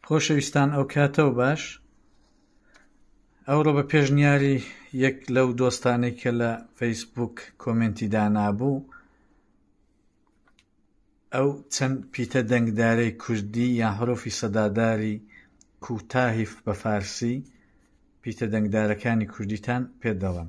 خۆشەویستان ئەو کاتە و باش ئەوڕۆ بە پێشنیاری یەک لەو دۆستانی کە لە فەیسبوک کۆمنتی دانابوو ئەو چەند پیتە دەنگدارەی کوردی یا هەرۆفی سەداداری کوتاهیف بە فارسی پیتە دەنگدارەکانی کوردیتان پێ دەڵم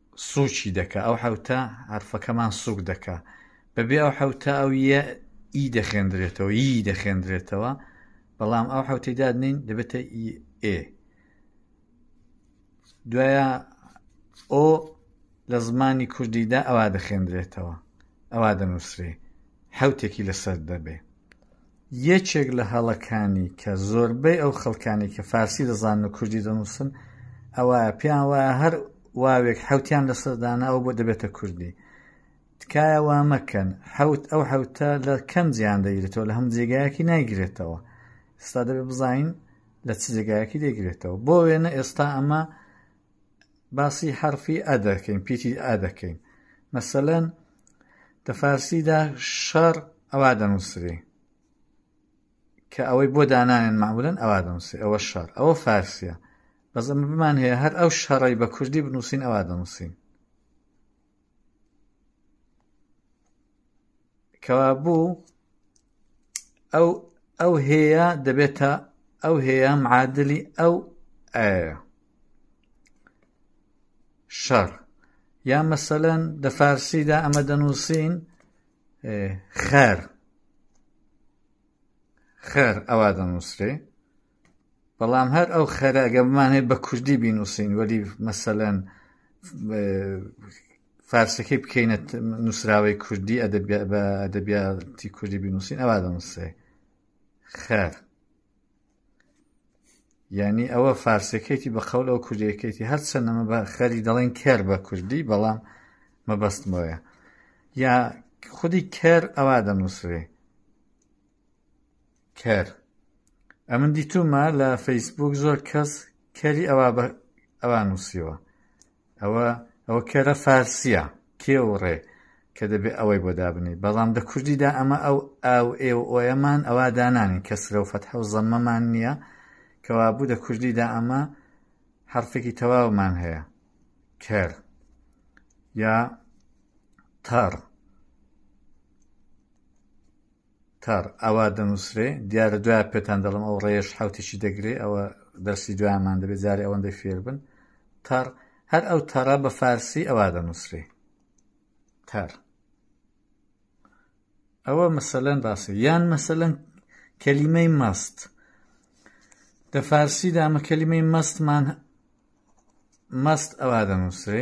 سووکی دەکا ئەو حەوتە حەرفەکەمان سووک دەکا بەبێ ئەو حەوتە ئەو یە ئی دەخێندرێتەوە ی دەخێندرێتەوە بەڵام ئەو حوتی دادنین دەبێتە ئێ دوایە ئۆ لە زمانی کوردیدا ئەوا دەخێندرێتەوە ئەوا دەنووسێ حوتێکی لەسەر دەبێ یەکێک لە هەڵەکانی کە زۆربەی ئەو خەڵکانی کە فارسی دەزانن و کوردی دەنووسن ئەوایە پێیان وایە هەر واوێک حوتیان لەسەردانە ئەو بۆ دەبێتە کوردی تکایە وا مەکەن حوت ئەو حوتە لە کەم جیان دەگرێتەوە لە هەم جێگایەکی نایگرێتەوە ئستا دەبێت بزانین لە چ جێگایەکی دەگرێتەوە بۆ وێنە ئێستا ئەمە باسی حەرفی ئە دەکەین پیتی ئە دەکەین مەسەلەن دە فارسیدا شەڕ ئەوا دەنووسری کە ئەوەی بۆ دانانێن معمولەن ئەوا دەنووسی ئەوە شار ئەوە فارسیە بەس ئەمە بمان هەیە هەر ئەو شەڕی بە کوردی بنووسین ئەوا دەنووسین کەوابوو ئەو ئەو هەیە دەبێتە ئەو هەیە معادلی ئەو ئایا شەڕ یا مەسەەن دە فارسیدا ئەمە دەنووسین خەر خەر ئەوە دەنووسێ بەڵام هەر ئەو خەرە گە بمان هەیە بە کوردی بینووسین وەلی مەسەەن فارسەکەی بکەینە نووسراوەی کوردی بە ئەدەبیاتی کوردی بینووسین ئەوا دەنووسێ خەر یعنی ئەوە فارسەکەیتی بە قەول ئەو کوردیەکەیتی هەر چەندەمە بە خەری دەڵێن کەر بە کوردی بەڵام مەبەستمەوەە یا خودی کەر ئەوا دەنووسێ کەر ئەمن دیتومە لە فەیسبوک زۆر کەس کەری ئەوا بە ئەوا نووسیوە ئەوە ئەوە کەرە فارسیە کێ و ڕێ کە دەبێ ئەوەی بۆ دابنی بەڵام دە کوردیدا ئەمە ئەو ئاو ئێ و ئۆیەمان ئەوا دانانی کەسرە و فەتح و زەممەمان نییە کەوا بوو دە کوردیدا ئەمە حرفێکی تەواومان هەیە کەر یا تەڕ تار، ئاوا دەنووسرێ، دیارە دوایە پێتان دەڵێم ئەو ڕێیەش حەوتێکی دەگرێ، ئەوە دەرسی دوایەمان دەبێ جارێ ئەوەندەی فێر بن. تار، هەر ئەو تارە بە فارسی ئەوا دەنووسرێ. تار. ئەوە مەسەلەن باسە یان مەسەلەن کەلیمەی مەست لە فارسیدا ئەمە کەلیمەی مەستمان مەست ئەوا دەنووسێ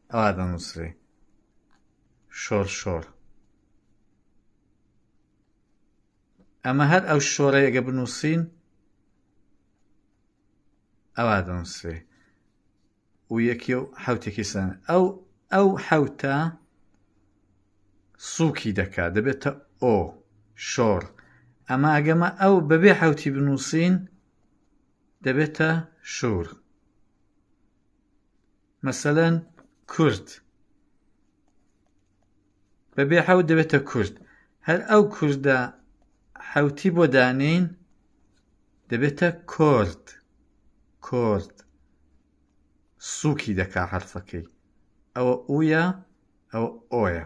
ئاوا دەنووسرێ شۆر شۆر ئەمە هەر ئەو شۆرەیەگە بنووسین ئەوا دەنووسێ و یەکی و حوتێکی سان ئەو ئەو حوتە سووکی دەکات دەبێتە ئۆ شۆڕ ئەمە ئەگەمە ئەو بەبێ حوتی بنووسین دەبێتە شور مەسەلەن کورد بەبێ حەوت دەبێتە کورد هەر ئەو کوردە حەوتی بۆ دانین دەبێتە کۆرد کۆرد سووکی دەکا حرفەکەی ئەوە ئوە ئەو ئۆیە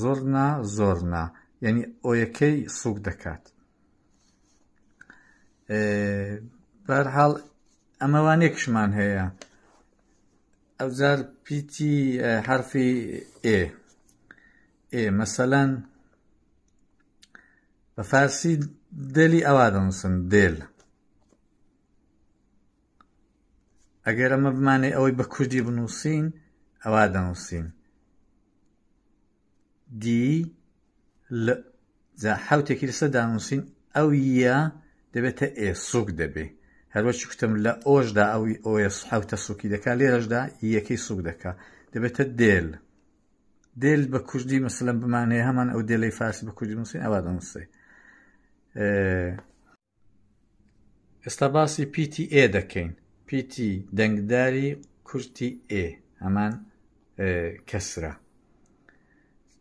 زۆرنا زۆرنا یعنی ئۆیەکەی سوک دەکات بەرحاڵ ئەمەوانێکشمان هەیە ئەوجار پیتی حرفی ئێ ئێ مەسەەن بە فارسی دێلی ئەوا دەنووسن دێل ئەگەر ئەمە بمانەی ئەوەی بە کوردی بنووسین ئەوە دەنووسین دی جا حوتێکی لەسەر دانووسین ئەو یە دەبێتە ئێ سوک دەبێ هەروەچی کوتم لە ئۆشدا ئەوی ئۆس حوتە سوکی دەکا لێرەشدا یەکەی سوک دەکا دەبێتە دێل دێل بە کوردی مەسلم بمانەیە هەمان ئەو دێلەی فارسی بە کوردی نووسین ئەوە دەنووسێ ئێستا باسی پیتی ئێ دەکەین پیتی دەنگداری کورتی ئێ هەمان کەسرە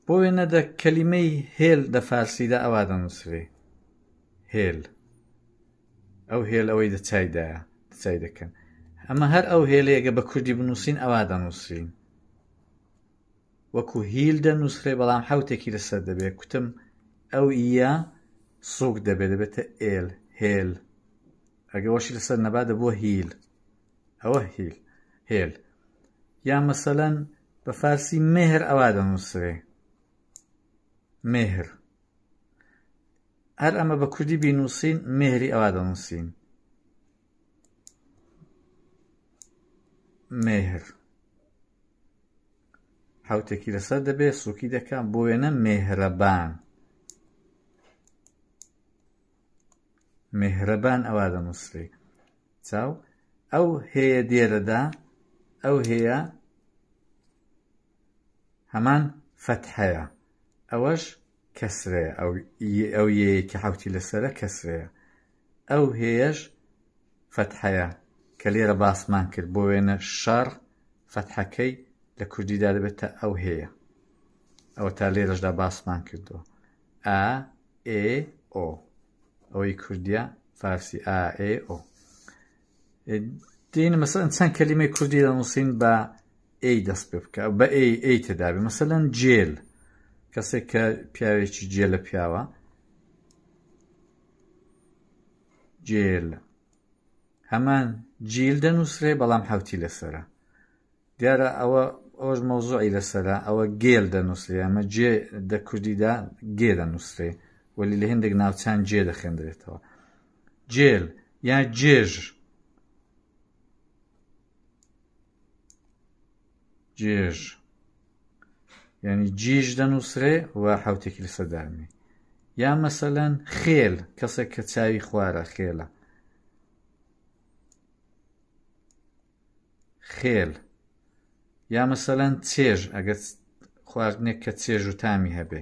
بۆ وێنە دە کەلیمەی هێل دە فارسیدا ئەوا دەنووسێ هێل ئەو هێل ئەوەی دە چایدایە چای دەکەن ئەمە هەر ئەو هێلەیەگە بە کوردی بنووسین ئەوا دەنووسین وەکو هیل دەنووسرێ بەڵام حەوتێکی لەسەر دەبێ کوتم ئەو ئیە سوک دەبێ دەبێتە ئێل هێل ئەگە وەشی لەسەر نەبا دەبووە هیل ئەوە هیل هێل یا مەسەەن بە فارسی مهر ئەوا دەنووسێ مهر هەر ئەمە بە کوردی بینووسین مهری ئەوا دەنووسین مهر حوتێکی لەسەر دەبێت سووکی دەکەم بۆ وێنە مێهرەبان مێهرەبان ئەوا دەنووسری چاو ئەو هەیە دێرەدا ئەو هەیە هەمان فەت هەیە ئەوەش کەسرەیە ئەو ئەو یەیەکی حوتی لەسرە کەسرەیە ئەو هێش فەتحەیە کە لێرە باسمان کرد بۆ وێنە شەڕ فەتحەکەی لە کوردیدا دەبێتە ئەو هەیە ئەوە تا لێرەشدا باسمان کردووە ئا ئێ ئۆ ئەوەی کوردیا فارسی ئا ئێ ئۆ دین مەسەن چەند کەلیمەی کوردی دەنووسین بە ئەی دەست پێ بکە بە ئەی ئەی تێدابێ مەسەەن جێل کەسێک کە پیاوێکی جێ لە پیاوە جێل هەمان جیل دەنووسرێ بەڵام حوتی لەسرە دیارە ئەوە ئەوش مەوزوعی لەسرە ئەوە گێل دەنووسێ ئەمە جێ دە کوردیدا گێ دەنووسێ وەلی لە هندێک ناوچان جێ دەخێندرێتەوە جێل یا جێژ جێژ ینی جیژ دەنووسرێ و حوتێکی لە سەدامی یا مەسەەن خێل کەسێک کە چاوی خوارە خێلە خێل یا مەسەەن چێژ ئەگەر خواردنێک کە چێژ و تامی هەبێ